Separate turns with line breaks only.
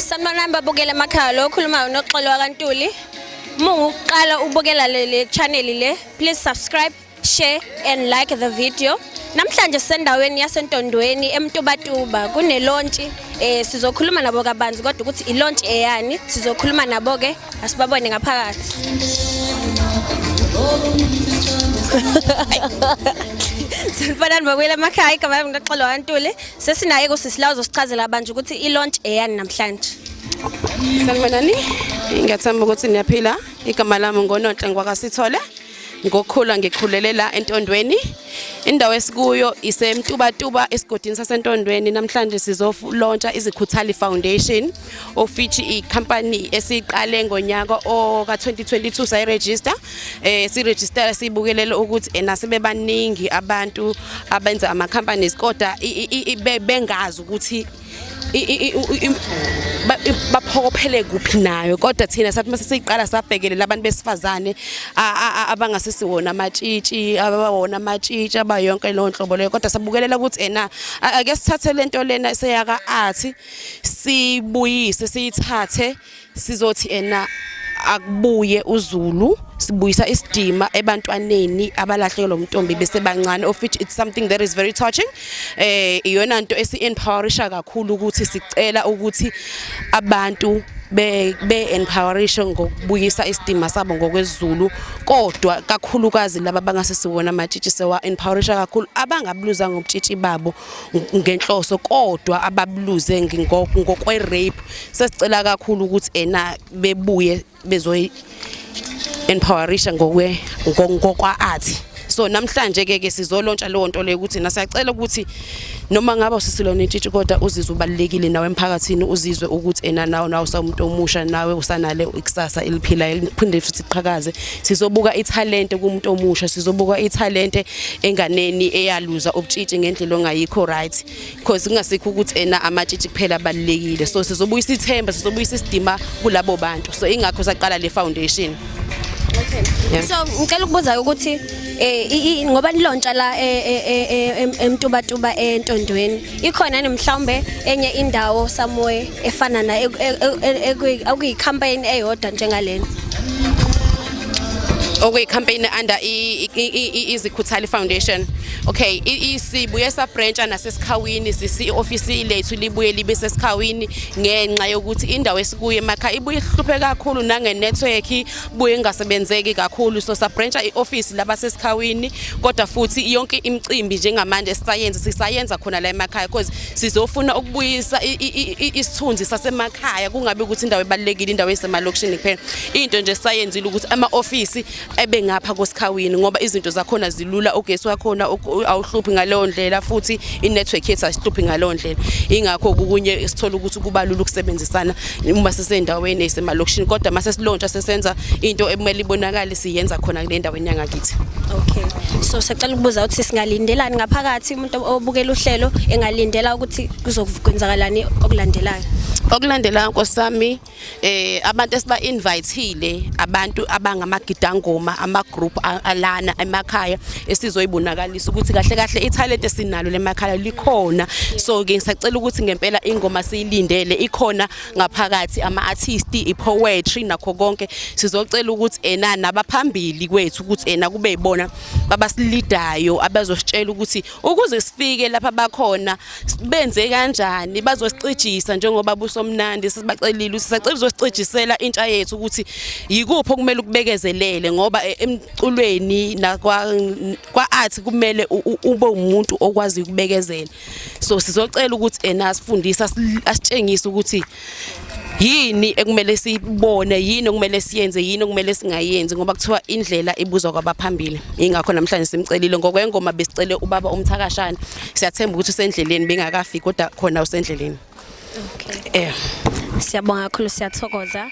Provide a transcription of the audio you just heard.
Sanibonani babukela emakhaya lo okhuluma unoxolo wakantuli uma ungukuqala ubukela le channel le please subscribe share and like the video namhlanje sisendaweni yasentondweni emtubatuba kunelontshi eh sizokhuluma nabo kabanzi kodwa ukuthi ilontshi eyani sizokhuluma nabo ke asibabone ngaphakathi Sanibonani bakwela emakhaya igama lami ngixoxelwa kaNtuli Sesinaye kusisi la uzosichazela abantu ukuthi i-launch eyani namhlanje.
Sanibonani. Ngiyathemba ukuthi niyaphila. Igama lami ngoNonhle ngwakasithole. Ngokukhula ngikhulele la entondweni. Indawo esikuyo iseMtubatuba esigodini saseNtondweni. Namhlanje sizolontsha iziKhuthali Foundation. of which icompany esiqale ngonyaka oka-2022 sayiregister eh siregister sibukelele ukuthi ena sebebaningi abantu abenza ama companies kodwa bengazi ukuthi baphokophele kuphi nayo kodwa thina sathi mase siqala sabhekele labantu besifazane abangasisi wona amatshitshi abawona amatshitshi abayonke leyo nhlobo leyo kodwa sabukelela ukuthi ena ake sithathe lento lena seyaka art sibuyise siyithathe sizothi ena akubuye uzulu sibuyisa isidima ebantwaneni abalahleke lo mntombi bese bancane of which it's something that is very touching eh iyona nto esi-empowerisha kakhulu ukuthi sicela ukuthi abantu be-empowerishe ngokubuyisa isidima sabo ngokwezulu kodwa kakhulukazi laba bangasesiwona amatshitshi sewa-empowerisha kakhulu abangabuluzanga ubutshitshi babo ngenhloso kodwa ababuluze ngokwe rape sesicela kakhulu ukuthi ena bebuye bezoyi empowerisha ngokwe ngokwa athi so namhlanje ke ke sizolontsha leyo nto leyo ukuthi nasiyacela ukuthi noma ngaba usisilona intshitshi kodwa uzizwe ubalekile nawe emphakathini uzizwe ukuthi ena nawe nawe umuntu omusha nawe usanale ikusasa eliphila eliphinde futhi qhakaze sizobuka ithalente kumuntu omusha sizobuka ithalente enganeni eyaluza ubutshitshi ngendlela ongayikho right because kungasikho ukuthi ena amatshitshi kuphela abalulekile so sizobuyisa ithemba sizobuyisa isidima kulabo bantu so ingakho saqala le foundation
okay so ngicela ukubuza ukuthi eh ngoba nilontsha la eh, eh, eh, emtubatuba entondweni ikhona yini mhlawumbe enye indawo somewhere efana na okuyicampaign eyodwa njengalena
okuyicampaign under izikhuthali foundation okay isibuye sabrantsha nasesikhawini sisi office lethu libuye libe sesikhawini ngenxa yokuthi indawo esikuye emakha ibuye ihlupheka kakhulu nange network buye ingasebenzeki kakhulu so sabrancha i-office laba sesikhawini kodwa futhi yonke imicimbi njengamanje sisayenza sisayenza khona la emakhaya because sizofuna ukubuyisa isithunzi sasemakhaya kungabi ukuthi indawo ebalulekile indawo esemalokishini kuphela into nje sayenzile ukuthi ama-ofisi ebe ngapha kwesikhawini ngoba izinto zakhona zilula ugesi wakhona awuhluphi ngaleyo ndlela futhi i-network yethu asihluphi ngaleyo ndlela ingakho kukunye sithola ukuthi kubalula ukusebenzisana uma sisendaweni esemalokishini kodwa uma sesilontsha sesenza into ekumele ibonakale siyenza khona kule ndaweni yangakithi okay
so sacela ukubuza ukuthi singalindelani ngaphakathi umuntu obukela uhlelo engalindela ukuthi kuzokwenzakalani okulandelayo okulandela
nkosi sami eh abantu esiba invitele abantu abangamagidangoma ama group alana emakhaya esizoyibonakala ngiyafisa ukuthi kahle kahle ithalent esinalo lemakhala likhona so ke ngisacela ukuthi ngempela ingoma siyilindele ikhona ngaphakathi ama artist i poetry nakho konke sizocela ukuthi ena nabaphambili kwethu ukuthi ena kube ibona babasilidayo abazositshela ukuthi ukuze sifike lapha bakhona benze kanjani bazosicijisa njengoba busomnandi sibacelile sisacela uzosicijisela intsha yethu ukuthi yikuphi okumele ukubekezelele ngoba eh, culweni nakwa kwa art kumele ube umuntu okwazi ukubekezela so sizocela ukuthi ena asifundise asitshengise ukuthi yini ekumele sibone yini okumele siyenze yini okumele singayenzi ngoba kuthiwa indlela ibuzwa kwabaphambili ingakho namhlanje simcelile ngokwengoma besicele ubaba umthakashana siyathemba ukuthi usendleleni bengakafiki kodwa khona
usendleleni
okay eh siyabonga
kakhulu siyathokoza